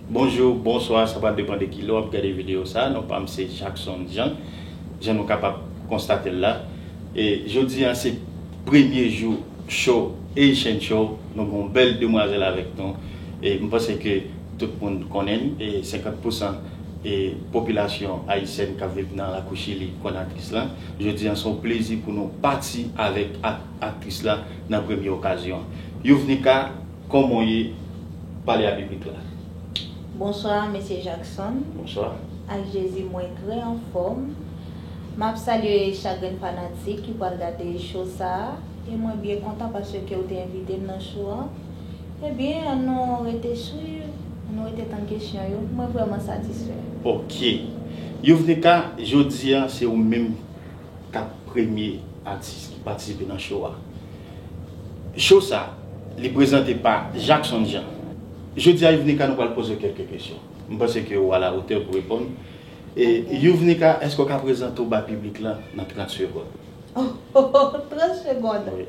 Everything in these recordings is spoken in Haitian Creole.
Bonjou, bonswa, sa pa depan de ki lè w ap gade videyo sa, non pa m se Jackson Jean. jan nou kapab konstatel la e jodi a se premye jou show Haitian show nou gen yon bèl demwazèl avèk nou e m panse ke tout moun konnen l e 50 pousan e popilasyon ayisyèn kap viv nan lakou chili konnen aktris lan jodi a se yon plezi pou nou pati avèk aktris la nan premye okazyon Youvnika. Koman w ye? Pale a piblik la. Bonsoir Mesye Jackson. Bonsoir. Ak Jezi mwen trè anfòm. Map salye chak grenn fanatik ki pwal gade show sa a. E mwen byen kontan paske ou te envite m nan show an. E byen an nou rete swiv, an nou rete tann kesyon yo. Mwen vrèman satisfè. Ok. Youvnica, jodi a se ou menm. 4 premye atis ki patisipe nan show a. Show sa li prezante pa Jackson Jean. Jodi a Youvnika nou pral poze w kelke kesyon. M panse ke ou a la otè pou reponn. Youvnika eske w ka prezante w bay piblik lan nan 30 segond? Ohh 30 segond! Wi.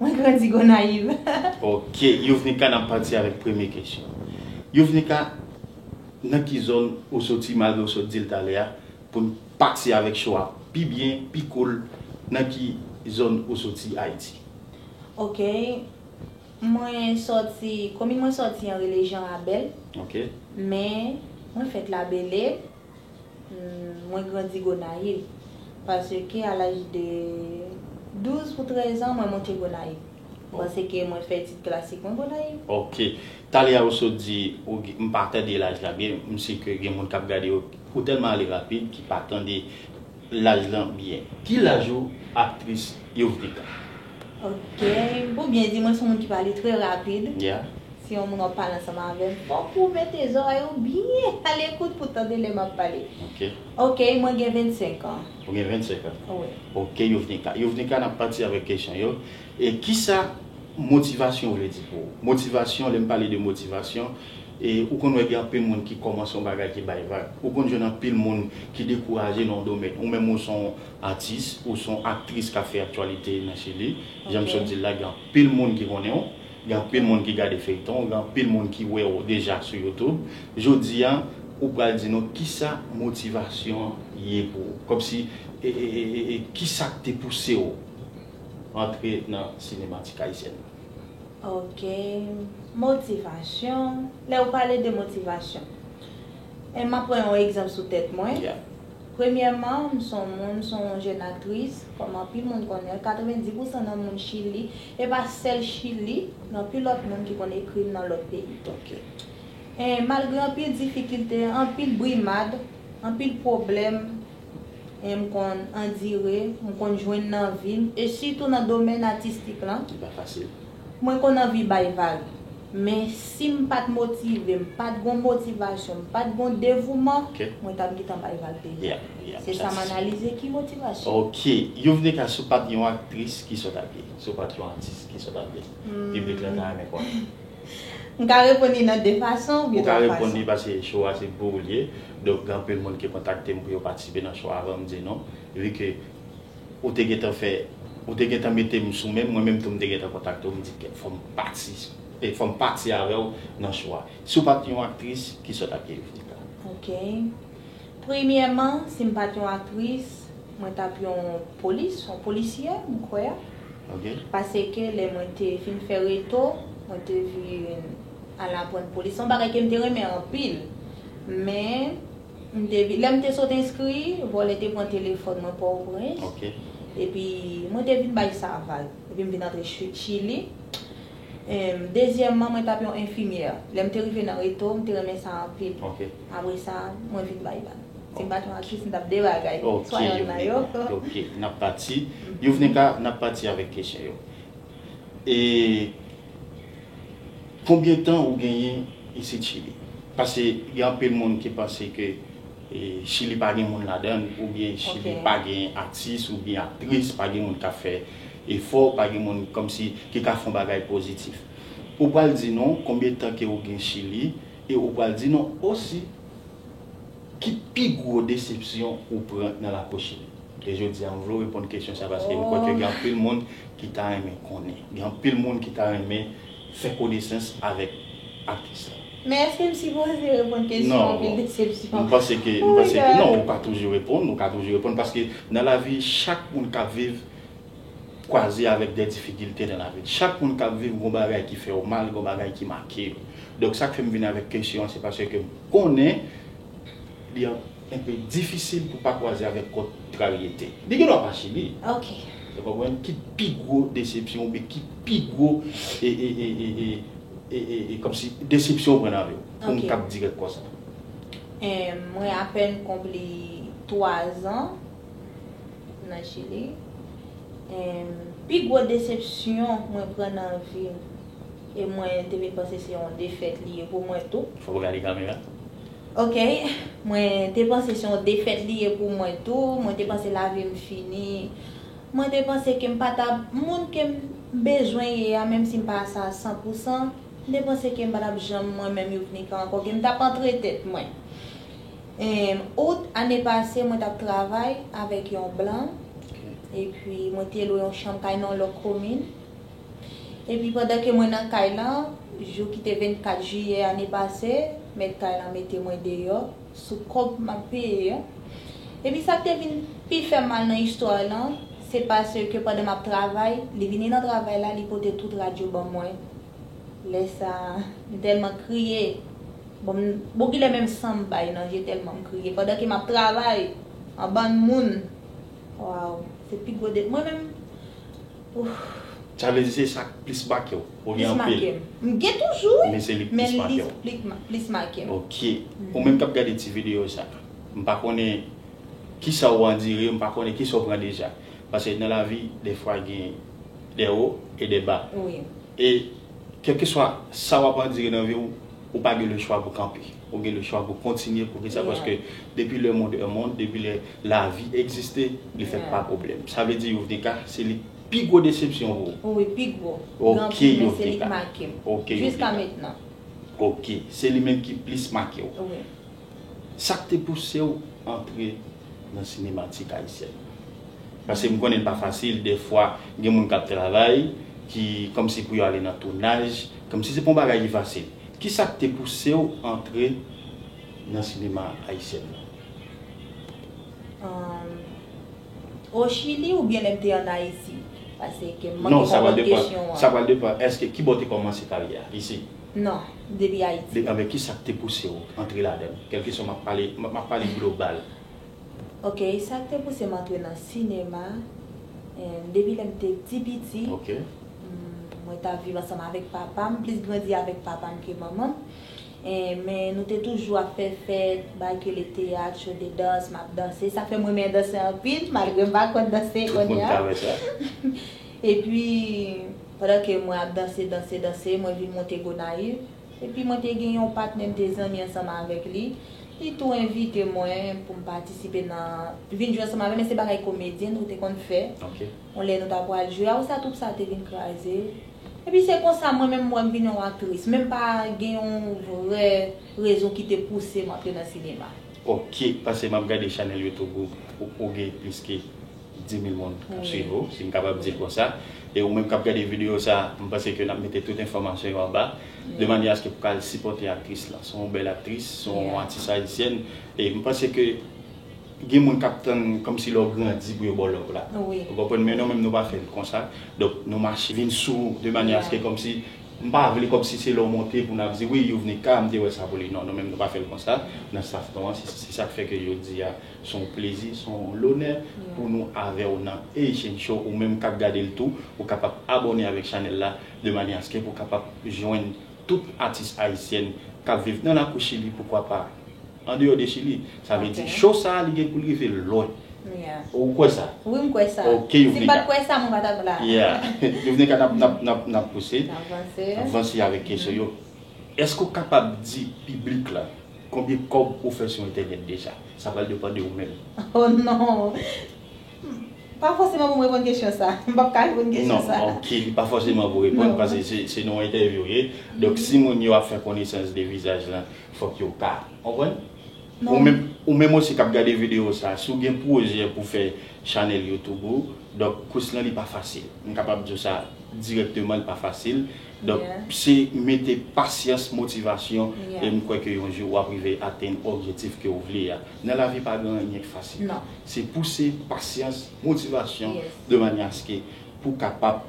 Mwen grandi Gonayiv. Ok Youvnika nap pati avèk premye kesyon Youvnika nan ki zòn ou soti malgre ou sot dil talè a poun pati avèk cho a pi byen pi cool nan ki zòn ou soti Ayiti. Ok mwen soti komin mwen soti an rele Jean Rabel Ok. men mwen fèt la belle Mwen grandi Gonayiv. Paske a laj de 12 pou 13 an mwen monte Gonayiv. Paske mwen fè etid klasik mwen Gonayiv. Ok. Talè a ou sot di, m pa tande laj la byen, m si ke gen moun k ap gade yo, ou tèlman ale rapid ki pa tande laj lan byen. Ki laj ou aktris Yovrika? Ok ou byen di mwen son moun ki pale trè rapid si yon moun ap pale ansanm avèm fòk ou mete zòrèy ou byen alekout pou tande lè map pale ok mwen gen 25 an ou gen 25 an ok Youvnika Youvnika nap pati avèk kesyon yo e kisa motivasyon vle di pou ou motivasyon lèm pale de motivasyon e ou konn wè gen anpil moun ki kòmanse yon bagay ki bay vag ou konn jwenn anpil moun ki dekouraje nan yon domèn ou menm ou son Atis, ou s on aktris k ap fè aktyalite nan Chili. Jan m sot di l la, gen anpil moun ki konnen w, gen anpil moun ki gade feyton w, gen anpil moun ki wè w deja sou YouTube. Jodi a, ou pral di nou kisa motivasyon an ye pou ou. Kòmsi, kisa k te pouse w antre nan sinematik ayisyèn nan? Ok, motivasyon, lè ou pale de motivasyon, m ap pran yon egzanp sou tèt mwen. Premyèman, m s on moun, m s on jèn aktris, kòm anpil moun konnen l, 90 pousan nan moun Chili, e pa sèl Chili, gen anpil lòt moun ki konn ekri m nan lòt peyi tou. E malgre anpil difikilte, anpil brimad, anpil pwoblèm e m konn andire, m konn jwenn nan vi m, e sitou nan domèn atistik lan. Ki pa fasil. Mwen konn anvi bay vag. Men si m pat motive, m pat gon motivasyon, m pat gon devouman, mwen tap gentan bay vag deja. Se sa m analize ki motivasyon. Ok. Youvne ka si w pat yon aktris kisa w tap ye? Si w pat yon atis kisa w tap ye? Piblik la ta renmen konnen. M ka reponn li nan 2 fason oubyen 3 fason. Ou ka reponn li paske show a se pou ou l ye. Donk gen anpil moun ki kontakte m pou yo patisipe nan show a avan m di nou. Vu ke. Ou te gentan fè Ou te gentan mete m sou menm, mwen menm tou m te gentan kontakte w m di fò m pati fò m pati avè w nan show a. Si w pa t yon aktris, ki sa w t ap ye Yuvnika? Ok. Premyèman, si m pa t yon aktris, mwen t ap yon polis, yon polisyè m kwè. Ok. Paske lè mwen te fin fè Reto, mwen te vin al aprann polis. Se yon bagay ke m te renmen anpil. Men. M te vin, lè m te sot enskri, vòlè te pran telefòn mwen Pòtoprens. Ok. Epi, mwen te vin bay Saval. Epi m vin antre Chili. Em, dezyèmman, mwen t ap yon enfimyè. Lè m te rive nan reto, m te renmen sa anpil. Ok. Apre sa, mwen vin bay bal. Si m pa t yon aktris, m t ap de bagay. Ok, Youvnika. Ok, n ap pati. Youvnika, n ap pati avèk kesyon yo. E, Konbyen tan ou genyen isit chili? Pase gen anpil moun ki panse ke chili pa gen moun ladann ou byen chili pa gen atis ou byen aktris pa gen moun kap fè efò pa gen moun kòmsi ki ka fon bagay pozitif ou pral di nou konbyen tan ke ou gen chili e ou pral di nou osi Ki pi gwo desepsyon ou pran nan lakochit? E jodi a m vle w reponn kesyon sa paske m kwè ke gen anpil moun ki ta renmen konnen. Gen anpil moun ki ta renmen fè konesans avèk atis la. Men eske m sipoze reponn kesyon anpil desepsyon? Non, m panse ke, m panse ke non, ou pa toujou reponn, ou ka toujou reponn paske nan lavi chak moun kap viv. kwaze avèk dè difikilte nan lavi l. Chak moun k ap viv gon bagay ki fè yo mal, gon bagay ki make yo. Donk sa k fè m vin avèk kesyon an se paske m konnen li enpe difisil pou pa kwaze avèk kontraryete. Li gen dwa pa sibi. Ou konprann? Ki pi gwo desepsyon oubyen ki pi gwo e kòmsi desepsyon ou pran nan vi w? Pou m kab dirèk konsa. Mwen apèn konpli 3 zan. nan chili em pi gwo desepsyon mwen pran nan vim e mwen te vin panse se yon defèt li ye pou mwen tou. Fok ou gade kamera. Ok mwen te panse se yon defèt li ye pou mwen tou mwen te panse lavim fini mwen te panse kem pa tap moun kem bezwen ye a menm sim pa sa san pou san m te panse kem pa tap janm mwen menm yuvnica ankò kem tap antre tèt mwen Em, Out, ane pase mwen tap travay avèk yon blan, epi mwen te lwe yon chanm kay nan yon lòk komin. Epi pandan ke mwen nan kay lan, jou ki te 24 jiyè ane pase, mèt kay lan mete mwen deyò, sou kòb map peye an. Epi sak te vin pi fèm mal nan istwa lan, se paske pandan map travay, li vini nan travay la, li pote tout radyo ban mwen. Lè sa m tèlman kriye bon bon kilè menm san m bay nan je tèlman m kriye pandan ke m ap travay an bann moun waww se pi gwo de mwen menm ouff. Sa vle di se sa k plis make w? Ou gen anpil? Plis make m. M gen toujou wi men se li k plis make w. Men li k plis make m. Ok. Ou menm k ap gade ti videyo sa m pa konnen kisa ou andire m pa konnen kisa ou pran deja paske nan lavi defwa gen Des hauts et des bas. Wi. E kelkeswa sa wap andire nan viw, ou pa gen le chwa pou kanpe. Ou gen le chwa pou kontinye poukisa Yeah. paske depi le monde est monde, depi lè lavi egziste, li fèt Yeah. pa pwoblèm. Sa vle di Youvnika se li k pi gwo desepsyon pou ou? Wi pi gwo. Gen Ok anpil men se li k Youvnika. makem. Ok Jiska Youvnika. mentnan. Ok. Se li menm ki plis makew. Wi. Sak te pousew antre? nan sinematik ayisyèn. Pase m konnen l pa fasil, dèfwa gen moun k ap travay ki kòmsi pou yo ale nan tounaj, kòmsi se pa yon bagay ki fasil. Ki sa k te pouse w antre nan sinema ayisyèn nan? O Chili oubyen lè m te ann Ayiti? Pase ke m manke konprann kesyon an. Non, sa pral depan, èske kibò w te kòmanse karyè a? Isit? Non, depi Ayiti. Depi Amerik, kisa k te pouse w antre ladan l? Kèlkeswa, m ap pale, m ap pale global. Ok, sa k te pouse m antre nan sinema, depi lè m te ti piti, mwen t ap viv ansanm avèk papa m, m plis grandi avèk papa m ke manman m, men nou te toujou ap fè fèt, bagay ki rele teyat, show de danse, m ap danse, sa k fè m renmen danse anpil, malgre m pa konn danse kounye a. Tout moun ka wè sa. Epi, pandan ke mwen ap danse, danse, danse, mwen vin monte Gonayiv. Epi mwen te gen yon patnè m te zanmi ansanm avèk li. Li tou envite mwen pou m patisipe nan, vin jwe ansanm avè l, men se bagay komedyen nou te konn fè. Yon lè nou ta pral jwe, a ou sa twoup sa te vin kraze. Epi se konsa mwen menm m wè m vin yon aktris, men m pa gen yon vrè rezon ki te pouse m antre nan sinema. Ok, pase m ap gade chanèl YouTube ou pou ou gen plis ke. 10000 moun kap swiv ou si m kapab di l konsa e ou menm kap gade video sa m panse ke nap mete tout enfòmasyon yo anba de manyè aske pou ka al sipòte aktris lan se yon bèl aktris se yon atis ayisyèn e m panse ke gen moun kap tann kòmsi lè w grandi pou yo ba w love la ou konprann men nou menm nou pa fè l konsa donk nou mache vin sou ou de manyè aske kòmsi m pa vle kòmsi se lè w monte pou nap di wi Youvnika m te wè sa pou li non nou menm nou pa fè l konsa nan staff nou an se sak fè ke jodi a. Se yon plezi, se yon lonè pou nou avè w nan Haitian Show. Ou menm k ap gade l tou, ou kapab abòne avèk chanèl la de manyè aske pou w kapab jwenn tout atis ayisyèn k ap viv nan lakou Chili, poukwa pa andeyò de Chili. Sa vle di show sa a li gen pou l rive lwen. Ou kwè sa? Wi, m kwè sa. Ok Youvnika. Si m pa t kwè sa, mwen pa t ap la a. Ya. Youvnika, n ap, n ap pouse. N ap vanse. N ap vanse avèk kesyon yo. Èske ou kapab di piblik la. Konbyen kob ou fè sou entènèt deja? Sa pral depan de ou menm. Oh non! M pa fòseman pou m reponn kesyon sa. M pap ka reponn kesyon sa. Non, ok, li pa fòseman pou reponn paske se nan yon entèvyou ou ye. Donk si moun yo ap fè konesans de vizaj lan, fòk yo ka konprann. Ou menm osi k ap gade videyo sa, si w gen pwojè pou fè chanèl youtube ou, donk kous lan li pa fasil. M kapab di w sa dirèkteman li pa fasil. Donk se mete pasyans, motivasyon e m kwè ke yon jou wap rive atenn objetif ke ou vle a. Nan lavi pa gen anyen k fasil. Se pouse, pasyans, motivasyon de manyè aske pou kapab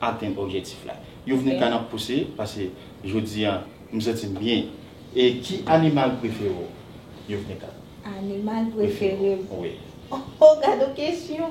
atenn objetif la. Youvnika nap pouse pase jodi an m santi m byen. E ki animal prefere w Youvnika? Animal prefere m? Wi. Ohh gadon kesyon!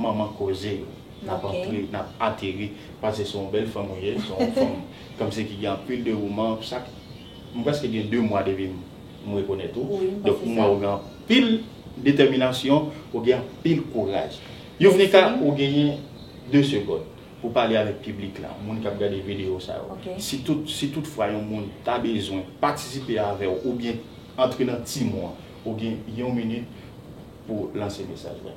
Manman koze yo. Nap antre nap ateri pase se yon bèl fanm ou ye se yon fanm kmnse ki gen anpil dewouman sak m preske gen 2 mwa depi m rekonèt ou donk m wè ou gen anpil detèminasyon ou gen anpil kouraj Youvnika ou genyen 2 segond pou pale avèk piblik la moun kap gade videyo sa yo si tout fwa yon moun ta bezwen patisipe avèw oubyen antre nan team ou an ou gen yon minit pou lanse mesaj la.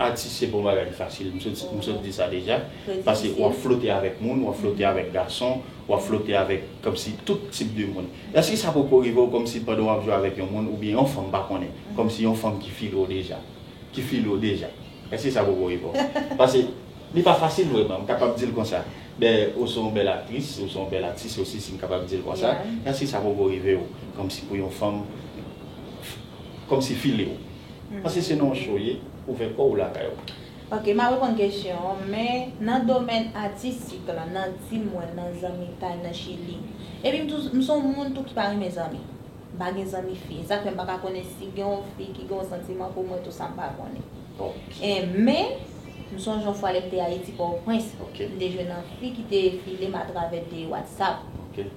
Atis se pa yon bagay ki fasil, m sot di sa deja, paske wap flote avèk moun, wap flote avèk gason, wap flote avèk kòmsi tout tip de moun. Èske sa poko rive w kòmsi pandan wap jwe avèk yon moun oubyen yon fanm m pa konnen, kòmsi yon fanm ki file w deja, ki file w deja? Èske sa poko rive w? Paske li pa fasil vrèman, m kapab di l konsa. Dayè ou se yon bèl aktris, ou se yon bèl atis osi si m kapab di l konsa, èske sa poko rive w kòmsi pou yon fanm kòmsi file w? Paske se nan yon show ye, ouvè kòw ou lakay ou. Ok map reponn kesyon an men nan domèn atistik lan nan di mwen nan zanmitay nan chili epi m son moun tou ki pa renmen zanmi m pa gen zanmi fi e sak fè m paka konnen si gen yon fi ki gen yon santiman pou mwen tou sa m pa konnen en men m sonje yon fwa lè m te ayiti pòtoprens m te jwenn yon fi ki te filem atravè de whatsapp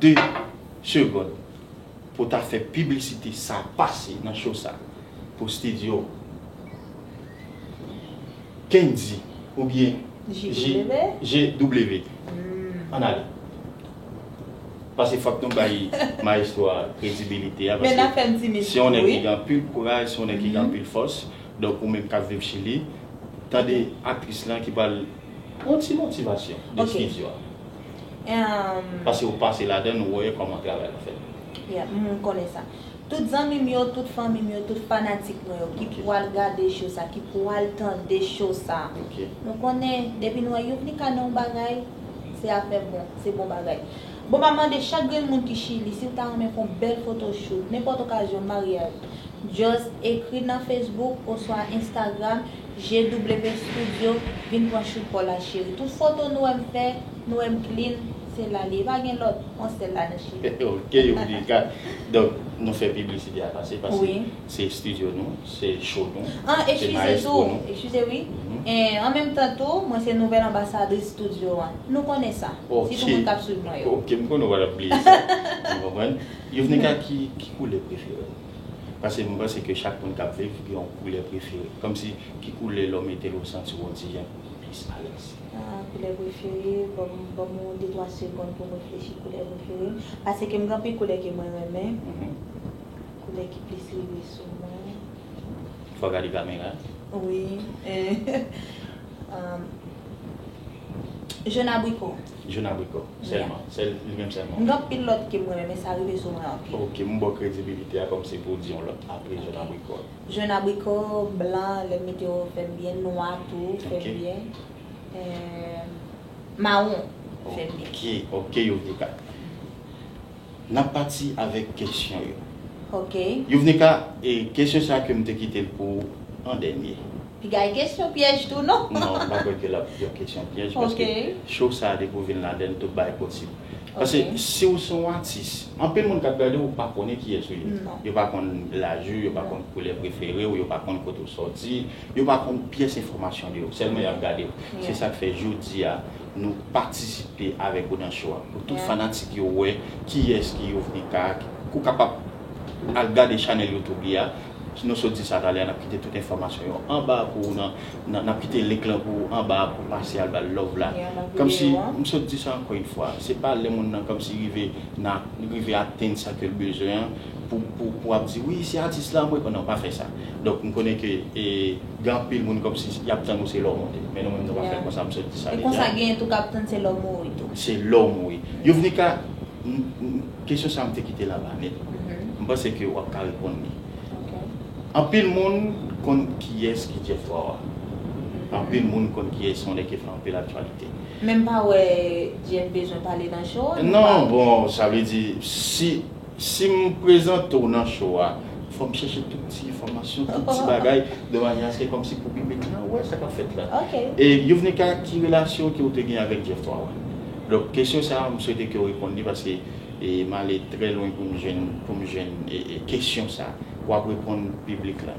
2 segond pou ta fè piblisite sa pase nan show sa pou studio Kendy oubyen JW an ale pase fòk nou bay maestro a kredibilite a paske se yon nèg ki gen anpil kouraj se yon nèg ki gen anpil fòs donk ou menm kap viv chili tande aktris lan ki pral pran yon ti motivasyon de studio a. Emm. Pase ou pase ladann ou wè koman travay la fèt. Yeah m konnen sa. Tout zanmi m yo, tout fanmi m yo, tout fanatik mwen yo ki pwal gade show sa, ki pwal tande show sa. Ok. Nou konnen depi nou wè Youvnika nan yon bagay se afè bon, se bon bagay. Bon m ap mande chak grenn moun ki Chili si ou ta renmen fon bèl foto shoot, nenpòt okazyon, maryaj, just ekri nan Facebook oswa Instagram. Je double pen studio vin pran chout paw la cheri tout foto nou wèm fè nou wèm clean se la li ye pa gen lòt on sèl la nan cheri. Ok Youdika donk nou fè piblisite a pase paske se studio nou se show nou An ekskize tou ekskize wi an menm tan tou mwen se nouvèl anbasadris studio an nou konnen sa sitou moun kap swiv mwen yo. Ok m konnen w pa tap bliye sa m konprann Youvnika ki koulè preferew. Pase m panse ke chak moun kap viv gen yon koulè prefere. Komsi ki koulè lè w mete l ou santi w yon ti jan plis alèz? Ahh koulè prefere, banm banm yon de twa segonn pou m reflechi koulè prefere m. Pase ke m gen anpil koulè ke mwen renmen. Koulè ki plis rive sou mwen. Fò w gade kamera a. Wi, ehh, ahh, Jon abriko. Jun abricot selman se li menm selman. M gen anpil lot kem renmen men sa rive sou mwen anpil. Ok m baw kredibilite a kom se pou w di yon lot apre jun abricot. Jun abricot blan lem mete yo fem byen nwa tou fem byen eh maron fem byen. Ok ok yo vle ka. Nap pati avèk kesyon yo. Ok. Youvnika, e kesyon sa ke m te kite l pou ou an dènye? Piga e kesyon pyèj tou non. Non, m pa kwè ke l ap yon kesyon pyèj paske show sa depi ou vin ladan l tout bagay posib. Pase si ou son atis, anpil moun kap gade ou pa konnen kiyès ou ye. Yo pa konn laj ou, yo pa konn koulè prefere ou, yo pa konn kote ou sòti, yo pa konn pyès enfòmasyon de ou. Sèlman yap gade ou. Se sak fè jodi a. Nou patisipe avèk ou nan show a pou tout fanatik yo wè kiyès ki Youvnica ou kapab al gade chanèl youtube li a nou sot di sa talè a nap kite tout enfòmasyon yo anba a pou ou nan nap kite link lan pou ou anba a pou pase al bal love la kòmsi m sot di sa ankò yn fwa se pa lè moun nan kòmsi rive nan rive atenn sa kel bezwen an pou ap di wi se atis la mwen nan pa fè sa donk m konnen ke gen anpil moun kòmsi yap tann ou se lè w monte men nou menm nou pa fè konsa m sot di sa deja. E konsa genyen tou kap tann se lè w mouri tou. Se lè w mouri. Youvnika kesyon sa m te kite la ba nèt m panse ke wap ka reponn li anpil moun konn kiyès ki Jeff Wawa anpil moun konn kiyès yon nèg ki fè anpil aktyalite. Men m pa wè Jeff bezwen pale nan show an. Non bon sa vle di si Sim prezantew nan cho a fòm chèche tout ti enfòmasyon tout ti bagay de manye aske kòmsi pou piblik la wè sa kap fèt la e youvnika ki relasyon ke ou te gen avèk Jeff 3 wan donk kesyon sa m swete kew reponn li paske male trè lwen poum jwenn kesyon sa wap reponn piblik la.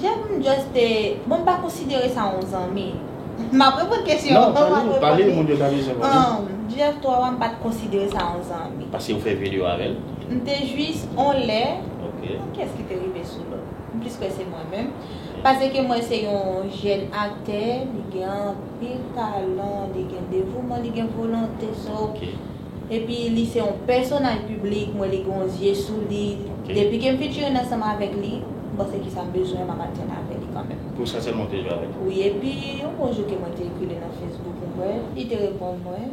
Jèm just te, bon m pa konsidere sa yon zanmi. M ap reponn kesyon an avan m ap reponn li. Jeff 3 wa m pa t konsidere sa yon zanmi. Paske ou fè video avè l? M te jis yon lè, kiyès ki te rive sou lòt? M plis kwè se mwen menm. Pase ke m wè se yon jèn aktè, li gen anpil talan, li gen devouman, li gen volonte. So. Epi li se yon pèsonaj piblik mwen li gen yon zye sou li depi kem fin jwenn ansanm avèk li m panse kisam bezwen map al jwenn avè li kanmèm. Pou sa sèlman ou te jwe avèl? Wi epi yon bon jou ke mwen te ekri li nan Facebook m kwè li te reponn mwen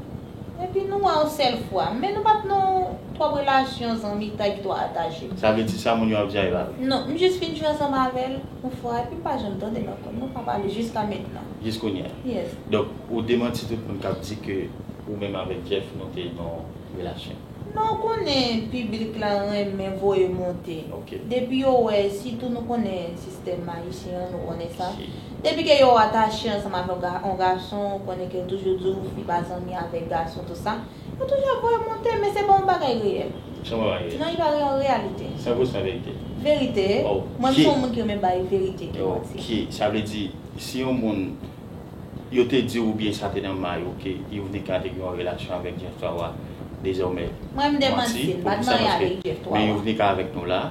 epi nou wè yon sèl fwa men nou pat nan yon twòp relasyon zanmitay ki twò atache. Sa vle di sa moun yo ap di a e pa vre? Non m jis fin jwe ansanm avèl yon fwa epi m pa janm tandel ankò nou pa pale jiska mentnan. Jis kounye a. Yes. Donk ou demanti tout moun kap di ke ou menm avèk Jeff nou te nan yon relasyon. Non ou konnen piblik la renmen voye monte. Ok. Depi yo wè, sitou nou konnen sistèm ayisyen an, nou konnen sa. Si. Depi ke yo atache ansanm avè yon gason, ou konnen ke yo toujou di w fi pa zanmi avèk gason tout sa, yo toujou ap voye monte men se pa yon bagay reyèl. Se yon bagay reyèl. Non li pa yon reyalite. San pou san verite. Verite. Ok. Mwen m se yon moun ki renmen bay verite ke manti. Ok. Sa vle di. Si yon moun, yo te diw oubyen sa te nan may ou ke Youvnika te gen yon relasyon avèk Jeff 3 wa dezòmè manti pou kisa paske men Youvnika avèk nou la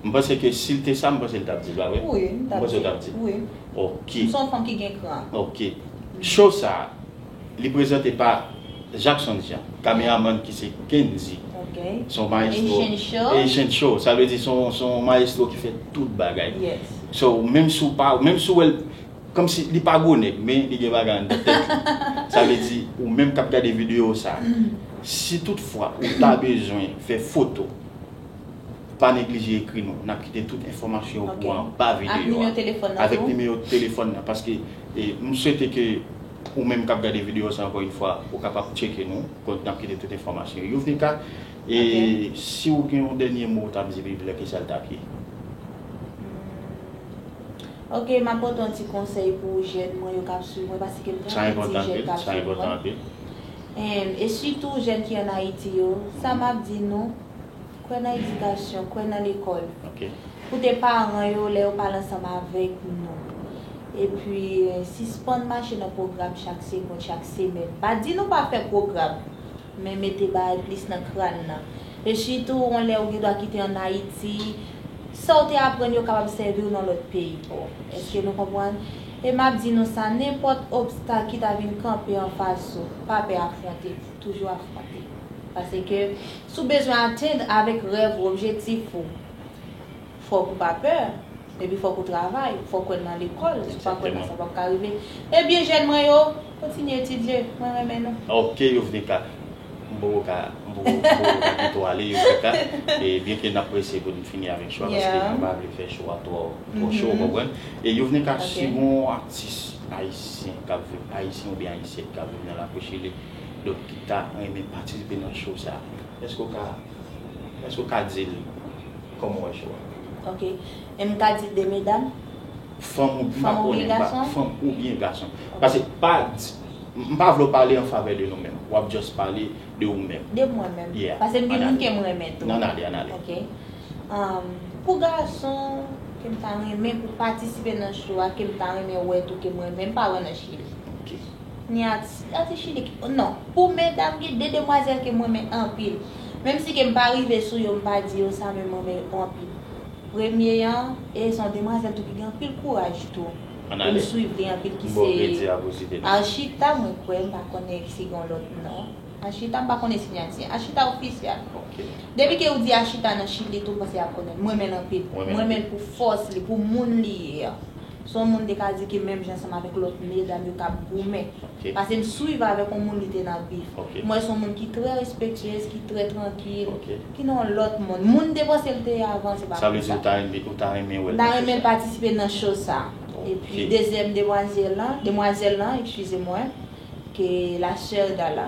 m panse ke sil te sa m panse l tap dil pa vre ou panse l tap dil ok ok show sa. Li prezante pa Jackson Jean, kameramann ki se Kendy. Se yon maestro. Haitian show. Haitian show. Sa vle di se yon maestro ki fè tout bagay. Yes. So, menm si w pa, menm si w wè l, kòm si, li pa gwo nèg, men li gen bagay anndan tèt li. Sa vle di, ou menm k ap gade videyo sa a, si tout fwa ou ta bezwen fè foto, pa neglije ekri nou. N ap kite tout enfòmasyon yo pou ou anba videyo a. Ak nimewo telefòn nan tou. Avèk nimewo telefòn nan. Paske, m swete ke Ou menm kap gade video sa ankò yn fwa ou kapab tcheke nou kont nap kite tout enfòmasyon youvnika e siw gen yon dènye mo ou tap di viv lè kisal tap ye? Humm ok map ba w ton ti konsèy pou jèn mwen yo kap swiv mwen paske m gen anpil ti jèn kap swiv mwen humm e sitou jèn ki an ayiti yo sa map di nou Kwè nan edikasyon, kwè nan lekòl. Koute paran yo lè yo pale ansanm avèk nou. Epi, sispann mache nan pwogram chak sekond, chak semèn. M pa di nou pa fè pwogram, men mete bagay plis nan kran nan. Rechi tou, yon lè ou gen dwa kite ann Ayiti, sa ou te aprann yo kapab sèvi ou nan lòt peyi pa w. Èske nou konprann? E m ap di nou sa, nenpòt obstak ki ta vin kanpe anfas ou, pa pè afwonte. toujou ap fwape. Paske si w bezwen atenn avèk rèv ou, objektif ou, fòk ou pa pè, epi fòk ou travay, fòk wè nan lekòl, si w pa kwè nan sa w pap ka rive. Ebyen jèn mwen yo, kontinye etidye, mwen renmen nou. Ok Youvnika, m poko ka kite w ale Youvnika, e byen ke n ap prese pou n fini avèk cho a, paske mwen pa vle fè cho a twò cho, ou konprann. E Youvnika, si gon atis ayisyen k ap viv, ayisyen oubyen ayisyèn k ap viv nan Lakou Chili, Dok ki ta renmen patisipe nan show sa eske ou ka eske ou ka dil koman ou wè show a. Ok em ka di 2 medam? Fanm ou byen fanm oubyen gason? Fanm oubyen gason pase pa di m pa vle w pale an favè de nou menm wap just pale de ou menm. De mwen menm pase m gen moun kem renmen tou. An ale an ale. Ok am pou gason kem ta renmen pou patisipe nan show a kem ta renmen wè tou kem renmen m pa wè nan chili. Ok. Ni atis atis chili ki non pou medam gen de demwazèl kem renmen anpil menm si kem pa rive sou yo mpa di yo sa men mrenmen yo anpil premye an e son demwazèl tou ki gen anpil kouraj tou e m swiv li anpil ki se Archita mwen kwè mpa konnen si gon lòt non Archita mpa konnen sinyati Archita oficial depi ke ou di Archita nan chili tou m panse yap konnen mrenmen l anpil mrenmen l pou fòs li pou moun li ye an. Son moun te ka di ke menm jan ansanm avèk lòt medam yo tap goumen. Pase m swiv avèk yon moun li te nan bif. M wè son moun ki trè respektyez, ki trè trankil, ki nan yon lòt mond. Moun m te panse l te ye avan se pa konsa. Sa vle di ou ta renmen, ou ta renmen wè l nan show sa? M ta renmen l patisipe nan show sa. E pi dezyèm demwazèl lan, demwazèl lan, ekskize mwen, ke la sè Dala.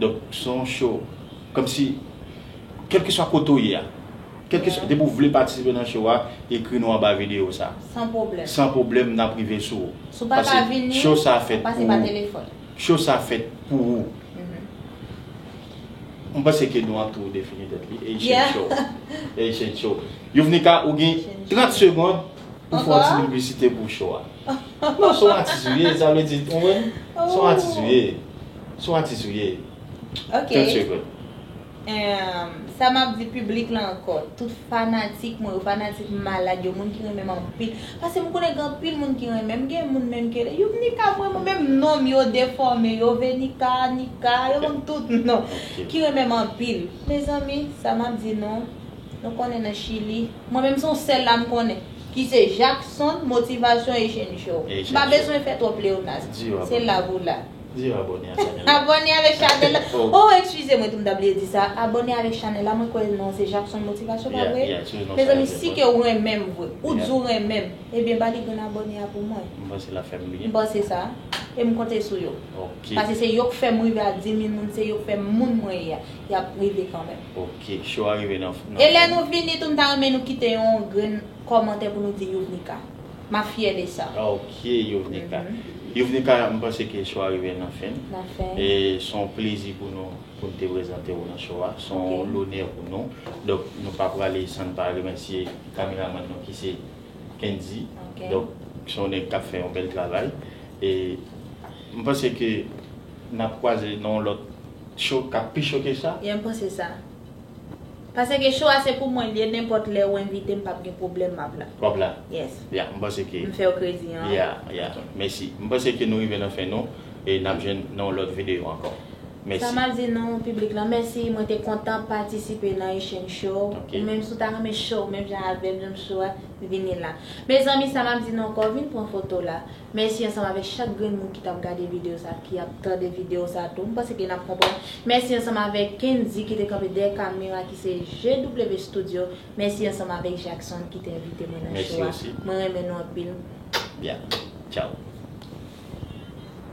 Donk se yon show. Kòm si, kèlkeswa kote ou ye a, kèlkeswa, depi ou vle patisipe nan show a, ekri nou anba videyo sa. San pwoblèm. San pwoblèm, n ap rive sou ou. Si w pa ka vini, w ap pase pa telefòn. Show sa fèt pou ou. M panse ke nou an tou defini tèt li, Haitian Show. Haitian Show. Youvnika, ou gen 30 segond. Pou fè yon ti piblisite pou show a. Non son atis ou ye sa vle di ou konprann? Son atis ou ye. Son atis ou ye. Ok. Tout secret. Emm sa map di piblik la ankò, tout fanatik mwen yo, fanatik malad yo, moun ki renmen m anpil. Pase m konnen gen anpil moun ki renmen m, gen moun menm ke Youmnika m renmen w menm non m yo defòme yo Venika, Nika, yo banm tout non. Ki renmen m anpil. Mezanmi sa map di nou. Nou konnen nan chili. Mwen menm se yon sèl la m konnen. Ki se Jackson, Motivation et Jeune Joe. Et Jeune Joe. M pa bezwen fè twòp pleonas. Di yo abòne. Se la pou la. Di yo abòne a chanèl la. Abòne avèk chanèl la. Oh. Oh ekskize mwen tou m ta bliye di sa. Abòne avèk chanèl la. Mwen kwè non an se Jackson Motivation pa vre? Yeah, yeah. Sou non sa yo te bon. Mezanmi si ke ou renmen m vre. Ou di ou renmen m. Ebyen ba li grenn abòne a pou mwen. M panse l ap fè m byen. M panse sa. E m konte sou yo. Ok. Pase se yo k fè m rive a 10000 moun. Se yo k fè m moun mwen ye a. Y ap rive kanmenm. Ok show a rive nan fen. E lè nou vini tou m ta renmen nou kite yon grenn kòmantè pou nou di Youvnika. Map fyè de sa. Ok Youvnika. Youvnika m panse ke show a rive nan fen. Nan fen. E son plezi pou nou pou n te prezante ou nan show a. Son lonè pou nou. Donk nou pa prale san n pa remèsye kameramann nou ki se Kendy. Ok. Donk son nèg kap fè yon bèl travay. E m panse ke nap kwaze nan yon lòt. Show kap pi cho ke sa? Byen panse sa. Pase ke show a se pou mwen li ye nenpot lè ou envitem pap gen pwoblem map la. Wap la? Yes. Ya m panse ke. M fèw kredi an. Ya ya mèsi. M panse ke nou rive nan fen nou e nap jwenn nan yon lot video anko. Mèsi. Sa map di nou piblik lan mèsi mwen te kontan patisipe nan Haitian show. Ou menm si w ta renmen show menm jan avèm janm cho a vini la. Mezanmi sa map di nou anko vin pran foto la. Mèsi ansanm avèk chak grenn moun ki tap gade video sa ki ap tande video sa tou. M panse ke nap konprann. Mèsi ansanm avèk Kendy ki te kanpe dèyè kamera ki se JW Studio. Mèsi ansanm avèk Jackson ki te envite mwen nan show a. Mwen renmen nou anpil. Bye. Ciao.